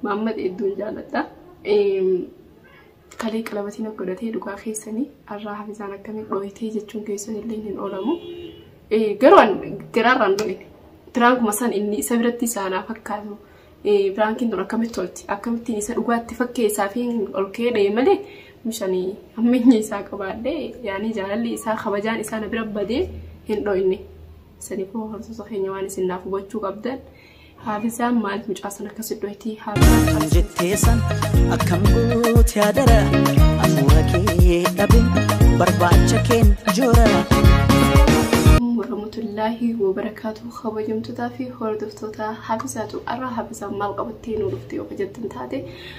Maammad hedduun jaalladha. Kalee qalabatiin akka godhatee dhugaa keessanii har'aa hafisaan akkamiin dhooytee jechuun keessan illee hin oolamu. Garuu garaarraan dhooyne. Piraankuma san inni isa biratti isaanaa fakkaatu. Piraankiin tun akkamitti tolti? Akkamittiin isa dhugaatti fakkeessaa fi ol keedhee malee mishanii hammeenya isaa qabaadhee yaanii jaalalli isaa kabajaan isaa na bira badee hin dhooyne. Sanii koo horsiisa keenya waan isin naaf hubachuu qabdan haafisaan maaliif mucaa sana akkasi dhohitii haafisaan jettee san akkam goote adara afuura kee dhabin barbaacha keen joora. warahmatullaahi wabarakaatu kabajamtootaa fi hordoftoota hafisaatu arraa hafisaan maal qabattee nuu dhuftee yoo jettan taate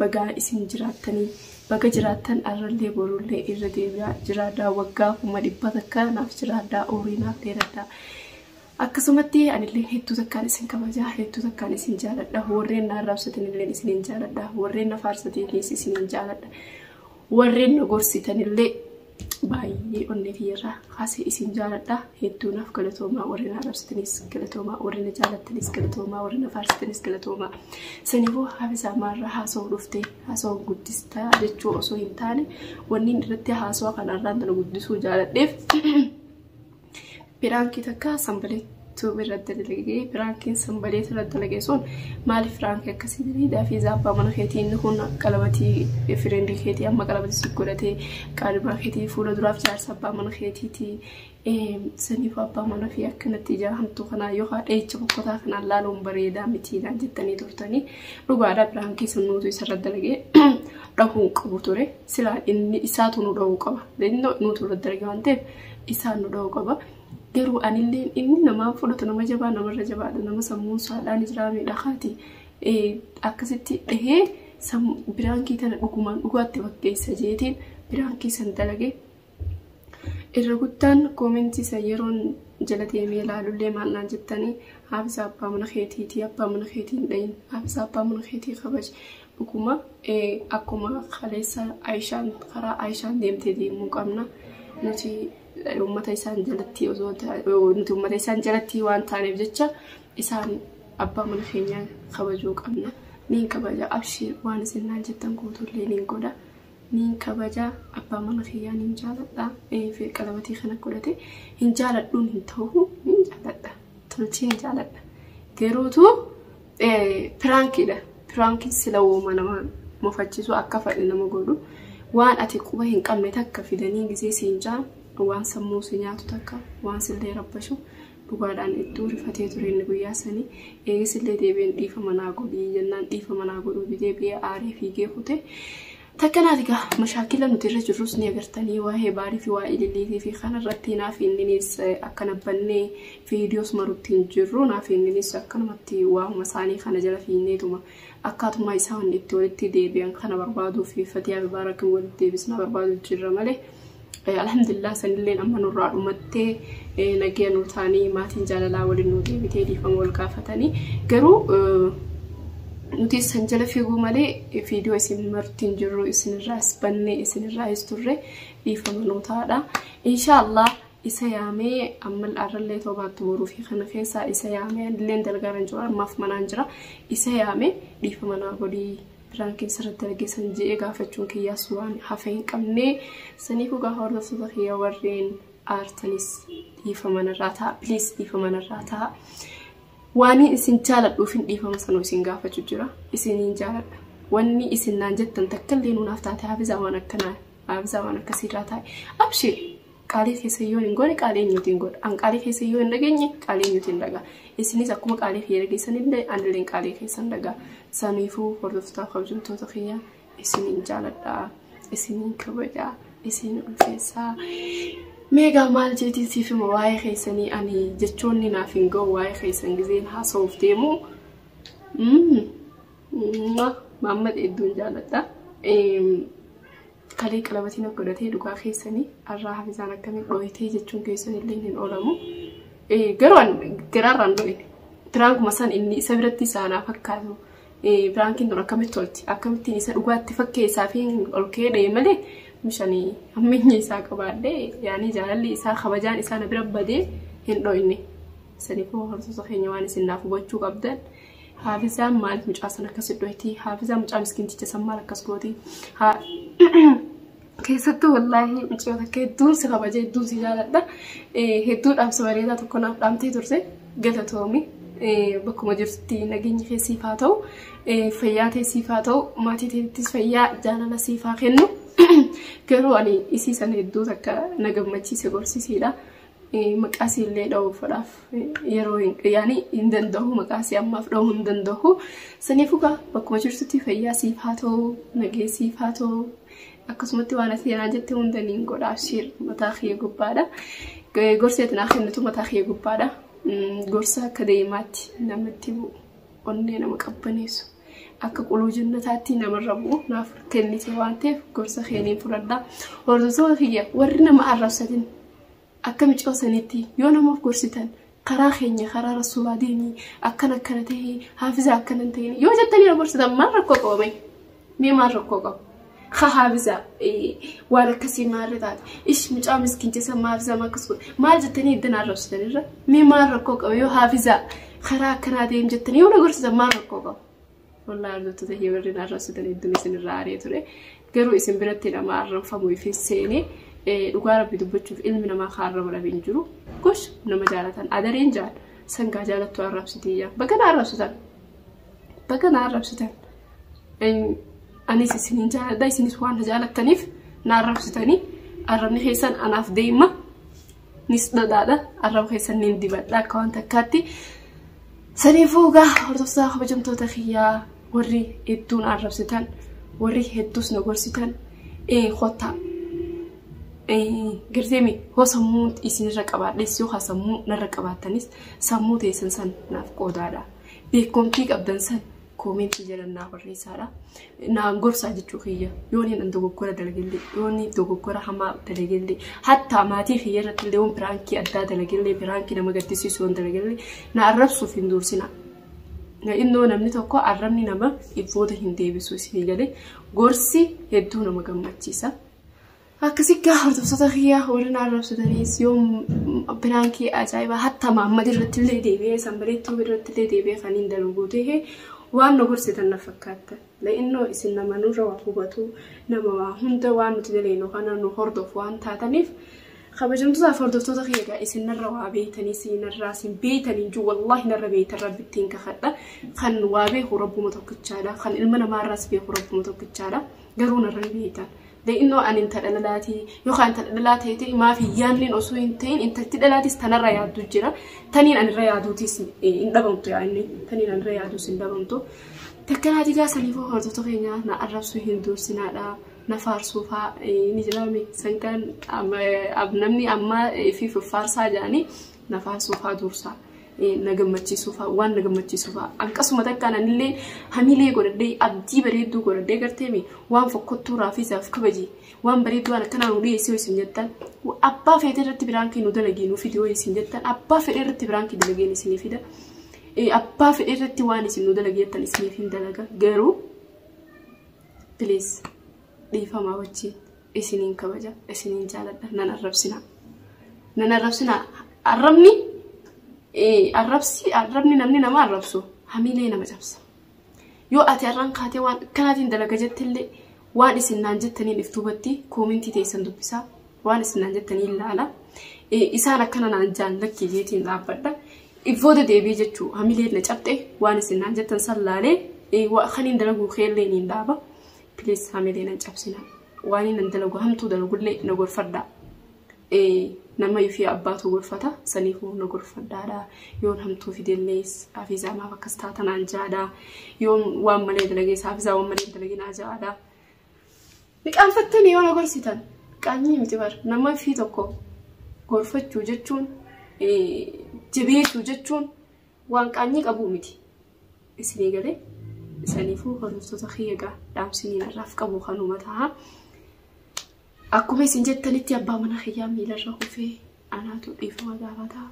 Bagaa isin jiraattanii. Baga jiraattan arrallee borullee irra deebi'aa jiraadhaa waggaa kuma dhibba takka naaf jiraadhaa umrii naaf dheeradhaa akkasumatti anillee hedduu takkaan isin kabajaa hedduu takkaan isin jaaladha warreen na arrabsatanillee isinin jaaladha warreen na faarsataniis isinin jaaladha warreen na gorsitanillee baay'ee onnee kiyyarraa kaasee isin jaaladha hedduu naaf galatoomaa warri na arrabsitanis galatoomaa warri na jaalattanis galatoomaa warri na faarsitanis galatoomaa sanifuu haafisaa maarra haasoo dhuftee haasoo guddistaa jechuu osoo hin taane wanni irratti haasoo kanarraan tana guddisuu jaaladheef Piraankii takka sanbaleet tube irratti dalage piraankiin sanbaleet irratti dalage sun maaliif piraankii akkasii dalagaa fi zaabbaa mana keetii inni kun qalabatii fireendii keetii amma qalabatii si godhatee qaalimaa keetii fuula duraaf jaarsa abbaa mana keetiiti saniif abbaa mana fi akkanatti ijaa hamtuu kanaa yookaan dheecha bokkotaa kanaan laaluun bareedaa mitiinaan jettanii turtanii dhugaadhaa piraankii sun nuutu isarra dalagee dhahuu qabu ture silaa inni isaatu nu dhahuu qaba nuutu irra dalagee waan ta'eef isaan nu dha'u qaba. Garuu anillee inni namaan fudhatu nama jabaa namarra jabaadha nama sammuun saadhaan jiraa miidha kaati akkasitti dhahee biraankii tana dhugumaan dhugaatti fakkeessa jeetiin biraankii san dalage irra guddaan koomentii san yeroon jala deemee ilaalullee maal naan jettanii haafisa abbaa mana keetiitii abbaa mana keetii hin dhayin haafisa abbaa mana keetii kabaji Dhuguma akkuma kaleessa Ayishaan karaa Ayishaan deemtee deemuu qabna. Nuti uummata isaan jalatti osoo nuti uummata isaan jalatti waan taaneef jecha isaan abbaa mana keenyaa kabajuu qabna. Niin kabaja abshiir waan isin naan jettan guutuullee niin godha. Niin kabaja abbaa mana kiyyaa niin jaaladha. Eefi qalabatii kana godhate hin jaaladhuun hin ta'u niin jaaladha. Tolchee hin jaaladha. Garuutu Piraankiidha. Piraankiin sila wooma nama mufachiisu akka fadhe nama godhu waan ati quba hin qabne takka fidanii gisee siin jaan waan sammuu si nyaatu takka waan sillee rabbashu dhugaadhaan iddoo rifatee ture inni guyyaa sanii eegisillee deebiin dhiifa manaa godhii jennaan dhiifa manaa godhuu didee biyya aaree fiigee kute. Takka laali gaa mashaakila nuti irra jirrus ni agartanii waa'ee baarii fi waa'ee ililliitii fi kana irratti naaf inninis akka nabbannee viidiyoos marutti hin jirru naaf inninis akkanumatti waa'uma isaanii kana jala fiinneetuma akkaatuma isaan itti walitti deebi'an kana barbaaduu fi fatiyaa bibaarakii walitti deebisna barbaaduu jirra malee Alhamdulillah sanilleen amma nurraa dhumattee nagaya nuu taanii maatiin jaalalaa waliin nuu deebitee dhiifama wal gaafatanii garuu nuti isan jala figuu malee viidiyoo isin martiin jirru isinirraas banne isinirraas turre dhiifama nuu taadha. Inshaallah isa yaamee amma arrallee toobaatti boruu fi kana keessaa isa yaamee anilleen dalgaaran jiru ammaaf manaan jira isa yaamee dhiifama naa godhii. Piraankiin sirratti argee san je'ee gaafachuun kiyyaas waan hafe hin qabne saniifuu gaafa hordoftoota kiyya warreen aartanis dhiifama narraa ta'a please dhiifama narraa ta'a waan isin jaaladhuuf hin dhiifama sanuu isin gaafachuu jira isiniin jaaladha wanni isin naan jettan takkallee nuunaaf taate haafizaa waan akkanaa haafizaa waan akkasiirraa taa'e abshee Qaalii keessan yoo hin goone qaalii eenyuutiin godha. An qaalii keessan yoo hin dhageenye qaalii eenyuutiin dhagaa. Isinis akkuma qaalii kiyya dhageessan illee anilleen qaalii keessan dhagaa. Saniifuu hordoftoota kabajamtoota kiyya isiniin jaaladhaa. Isiniin kabajaa. Isin ulfeessaa. Meegaa maal jeetiin siif hima waa'ee keessanii ani jechoonni naaf hin ga'u waa'ee keessan gizeen haasa'uuf deemu. Maamma hedduun jaaladha. Kalee qalabatii naf godhatee dhugaa keessani arraa hafizaan akkamiin dhooytee jechuun keessan illee hin oolamu. Garuu an garaarraan dhooyne. Piraankuma san inni isa biratti isa anaa fakkaatu. Piraankiin tun akkamitti tolti akkamittiin isa dhugaatti fakkeessaa fi ol ka'ee dha'e malee mishanii hammeenya isaa qabaadhee yaanii jaalalli isaa kabajaan isaa na bira badee hin dhooyne. Saniifuu horsiisa keenya waan isin naaf hubachuu qabdan. Haafizaan maaliif mucaa san akkas dhoytii? Haafizaa mucaa miskiinticha san maal akkas gooti? Keessattuu wallaahi mucaa takka hedduun si kabaja hedduun si jaaladha. Hedduu dhaamsa bareedaa tokko naaf dhaamtee turte galatoomi. Bakkuma jirtutti nageenyi kee siif haa ta'u. Fayyaa kee siif haa ta'u. Maatii teettis fayyaa jaalala siif haa kennu. Garuu ani isii sana hedduu takka na gammachiise gorsiisiidha. maqaasii illee dha'uufadhaaf yeroo yaani hin danda'u maqaasii ammaaf dha'uu hin danda'u. Saniifuu gaa bakkuma jirtutti fayyaa siif haa ta'u nagee siif haa ta'u akkasumatti waan asii anaa jette hunda niin godha abshiir mataa kiyya gubbaadha. Gorsi ati naa kennitu mataa kiyya gubbaadha. Gorsa akka deemaatti namatti bu'u onnee nama qabbaneessu. akka quluu jannataatti namarra bu'u naaf kennite waan ta'eef gorsa keeniin fudhadha. Hordoftoota kiyya warri nama arrabsatin Akka micoo sanitti yoo nama of gorsitan karaa keenya karaa rasuulaa deemi akkana akkana ta'e haafizaa akkana hin ta'in yoo jettanii na gorsitan maal rakkoo qaba mee mee maal rakkoo qaba ka haafizaa eh, waan akkasii maarri taate ish mucaa miskiin jessa maa haafizaa maa akkas godhe maal jettanii iddana arrabsitan irra mee maal rakkoo qaba yoo haafizaa karaa akkanaa deem jettanii yoo na gorsitan maal rakkoo qaba Wallaahi hordoftoota kee warreen arrabsitan hedduun isin irraa aaree ture. Garuu isin biratti nama arrabfamu ifin seene dhugaa rabbi dubbachuuf ilmi namaa kan arraba dhabe hin jiru. Gosh nama jaalatan adareen jaal sangaa jaalattu arrabsitii yaa. Bakka na arrabsitan. Bakka na arrabsitan. Anis isin hin jaaladha isinis waan na jaalattaniif na arrabsitanii arrabni keessan anaaf deema. nis dhadhaadha arraba keessan nin dibadha akka waan takkaatti saniifuu egaa hordoftoota kabajamtoota kiyyaa warri hedduun arrabsitan warri hedduus na gorsitan ee kottaa garteemi hoo sammuu isinirra qabaadhes yoo sammuu narra qabaattanis sammuu teessan san naaf qoodaadha beekumtii qabdan san koomentii jalan naa barreessaadha. Naan gorsaa jechuu kiyya. Yoo inni nan dogoggora dalagellee, yoo inni dogoggora hamaa dalagellee, hattaa maatii kiyya irratti illee yoon piraankii addaa dalagellee, piraankii nama gaddisiisu yoon dalagellee, na arrabsuuf hin dursina. Innoo namni tokko arrabni nama booda hin deebisu isinii galee gorsi hedduu nama gammachiisa. Akkasitti hordoftoota kiyyaa warri na arrabsatanis yoo biraankii ajaa'ibaa hatta maammad irratti illee deebi'ee sanbaleettuu irratti illee deebi'ee kan hin dalaguu ta'e waan na gorsitan na fakkaatta. La'innoo isin nama nurra waa hubatu nama waa hunda waan nuti daleenu kana nu hordofu waan taataniif kabajamtootaaf hordoftoota kiyyagaa isin narra waa beeytanii isin narraa isin beeytanii juu wallaahi narra beeytan rabbittiin kakadha kan waa beeku rabbuma tokkichaadha kan ilma namaarraas beeku rabbuma tokkichaadha garuu narra hin beeytan. Innoo ani intala dhalaatii yookaan intala dhalaa ta'eetii maaf hin yaadneen osoo hin ta'in intalti dhalaatis tanarra yaaddu jira. Taniin anirra yaaduutis hin dhabamtu yaa inni taniin anirra yaaduus hin dhabamtu. Takka naa digaa saniifuu hordoftoota keenya na arrabsuu hin duursinaadha. Na faarsuufaa ni jiraame sankaan namni ammaa fi faarsaa jedhanii na faarsuufaa duursaa. na gammachiisuu fa'a waan na gammachiisuu fa'a akkasuma takkaan anillee hamilee godhadhee abdii bareedduu godhadhee garteemi waan fokkottuu raafiisaaf kabaji waan bareedduu waan akkanaa nu dhiyeessee isin jettan abbaa feetee irratti biraankii nu dalagii nu fidee ho'i isin jettan abbaa fedhee irratti biraankii dalageen isinii fida abbaa fedhee irratti waan isin nu dalagee jettan isiniif hin dalaga garuu please dhiifamaa wajjin. isiniin kabaja isiniin jaaladha nan arrabsina nan arrabsina arrabni arrabsi arrabni namni nama arrabsu hamiilee nama cabsa yoo ati arraan kaatee waan akkanaatiin dalaga jettillee waan isin naan jettaniin iftuubatti koomintii teessan dubbisaa waan isin naan jettaniin ilaala isaan akkana naan jaan lakkii jeetiin dhaabbadha ifooda deebii jechuu hamilee na cabxe waan isin naan jettan san laalee kaniin dalaguu keellee niin dhaaba Please hamilee nan cabsina. Waan nan dalagu hamtuu dalagullee na gorfadha. Nama fi abbaatu gorfata saniifuu na gorfadhaadha. Yoon hamtuu fidellees hafizaa maaf akkas taata naan jaadha. Yoon waan malee dalagees hafizaa waan malee dalage naa jaadha. Ni qaanfattanii yoo na gorsitan qaanyii miti bar nama fi tokko gorfachuu jechuun jabeessuu jechuun Waan qaanyii qabuu miti. Isinii galee? Isaniifuu hordoftoota kiyya gaa dhaamsinii narraaf qabu kanuma taha. Akkuma isin jettanitti abbaa mana kiyyaa miilarra kufee anaatu dhiifama gaafata.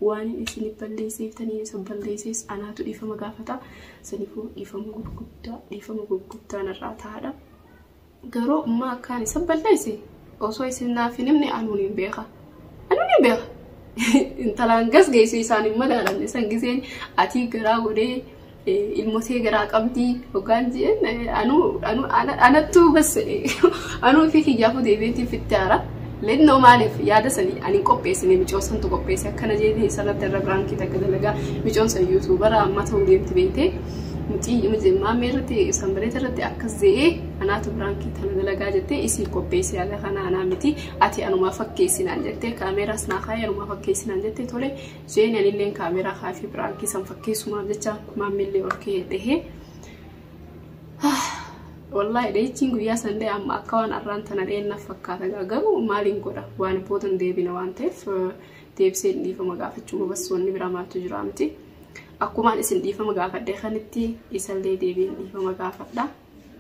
Waan isin balleesseeftanii isa balleessees anaatu dhiifama gaafata. Saniifuu dhiifama gurguddaa dhiifama gurguddaa narraa tahaadha. Garuu ummaa akkaan isa balleesse osoo isin naaf hin himne anuun hin beeka. Anuun hin beeka. Intalaan gas geessu isaan hin madaalamne san giseen atii garaa godhee ilmotee garaa qabdii hoggaan jeen anuu anattuu bas anuu fi kiyyaafuu deebiitiin fitti haara. Lennoo maaliif yaada sanii ani hin qopheessine micoon santu qopheesse akkana jeetee isa irratti irra biraankii takka dalagaa micoon san yuutuubara amma ta'uu deemti beektee. nuti maammee irratti sanbareeta irratti akkas ze'ee anaatu biraankii tana dalagaa jettee isii qopheessee haga kana anaa miti ati anumaa fakkeessinaan jettee kaameeraas naa kaayee anumaa fakkeessinaan jettee tole jeeni anilleen kaameeraa kaafii biraankii san fakkeessumaaf jecha maammiillee ol ka'ee dhahee. Wallaahi dheechiin guyyaa sandee amma akka waan arraan tana dheennaaf fakkaata garuu maaliin godha waan boodan deebina waan ta'eef deebisee dhiifama gaafachuu bassoonni biraa maaltu jira miti. Akkumaan isin dhiifama gaafadhe kanitti isallee deebiin dhiifama gaafadha.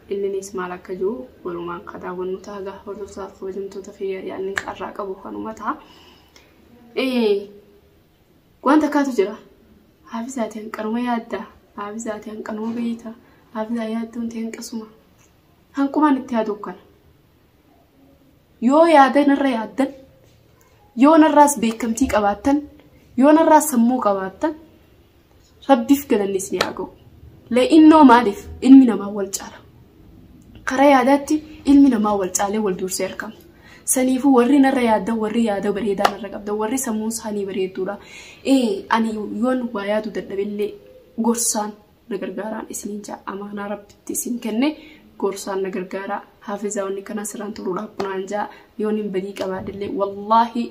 Inninis maal akka jiru walumaan ka daawwannu ta'a gaa hordoftoota kabajamtoota kiyya yaadni qarraa qabu kanuma ta'a. Waan takkaatu jira. Haafizaati hanqanuma yaadda. Haafizaati hanqanuma beeyta. Haafizaa yaaddoon ta'e hanqasuma. Hanqumaan itti yaadu kana. yoo yaadan irra yaaddan yoo narraas beekamtii qabaattan yoo narraas sammuu qabaattan rabbiif galanni isin haa ga'u le'innoo maaliif ilmi namaa wal caala karaa yaadaatti ilmi namaa wal caalee wal duursee argama saniifuu warri narra yaaddan warri yaada bareedaa narra qabdan warri sammuun isaanii bareedduudha ee ani yoon waa yaadu dadhabillee gorsaan na gargaaraan isiniin ja'a amaanaa rabbitti isin kenne gorsaan na gargaaraa haafizaa wanni kanaa sirraan turuu dhaabunaan ja'a yoon hin badii qabaadillee wallaahi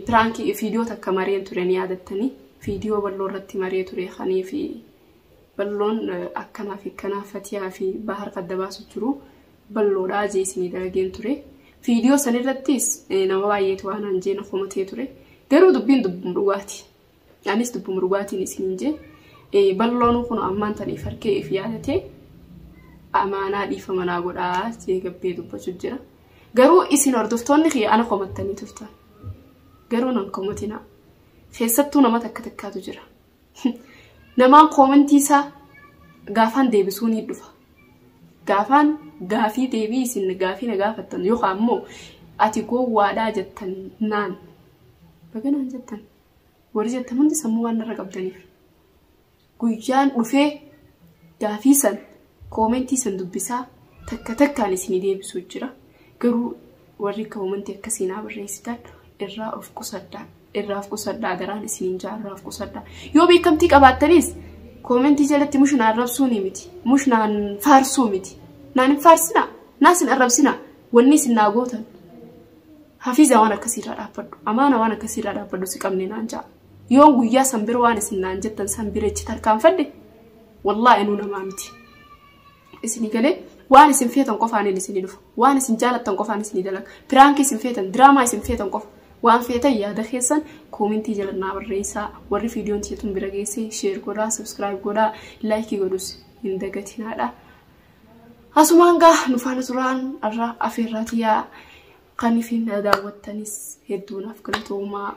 piraankii fiidiyoo takka mareen ture ni yaadattanii fiidiyoo balloo irratti maree ture kanii fi balloon akkanaa fi akkanaa fatiyaa fi bahar kadda baasu jiru balloodhaa jee isinii dalageen ture fiidiyoo sanirrattis nama baay'eetu waan hanjeen komatee ture garuu dubbiin dubbiin dhugaati Anis dubbuma dhugaatiin isiniin jee balloonuu kun ammaan tan if harkee if yaadatee amaanaa dhiifama naa godhaa jee gabbee dubbachuu jira. Garuu isin hordoftoonni kiyya ana komattanii turtan. Garuu nan komatinaa. Keessattuu nama takka takkaatu jira. Namaan koomentii isaa gaafaan deebisuu ni dhufa. Gaafaan gaafii deebii isin gaafii na gaafattan yookaan immoo ati gowwaadhaa jettan naan. Baga naan jettan. Warri jettan hundi sammuu waan narra qabdaniif. Guyyaan dhufee gaafii san koomentii san dubbisaa takka takkaan isinii deebisuu jira. Garuu warri koomentii akkasii naa barreessitan irraa of qusadhaa. Irraa of qusadhaa garaan isiniin jaa irraa of qusadhaa. Yoo beekamtii qabaattanis koomentii jalatti mush na arrabsuu ni miti. Mush naan faarsuu miti. Naan hin faarsinaa. Naas hin arrabsinaa. Wanni isin naa gootan. Hafiiza waan akkasii irraa dhaabbadhu. Amaana waan akkasii irraa dhaabbadhu si qabne naan ja'a. Yoon guyyaa san bira waan isin naan jettan san bira ichi tarkaanfadhe wallaahi nuu namaa miti. Isinii galee waan isin feetan qofaaniin isinii dhufa. Waan isin jaalattan qofaan isinii dalaga. Piraankii isin feetan, diraamaa isin feetan qofa. Waan feetan yaada keessan koomintii jala naa barreessaa. Warri viidiyoon tiyya tun bira geessee sheer godhaa, sabskiraayib godhaa, laayikii godhus hin dagatinaadha. Asumaan gaa nu faana turaan irra afeerraa tiyyaa kan ifiin na daawwattanis hedduu naaf galatoomaa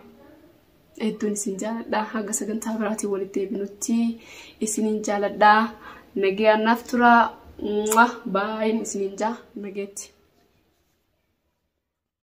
hedduun isin jaaladha haga sagantaa biraatiin walitti deebinutti isiniin jaaladha nagayaan naaf turaa baay'een isiniin jaa nageetti.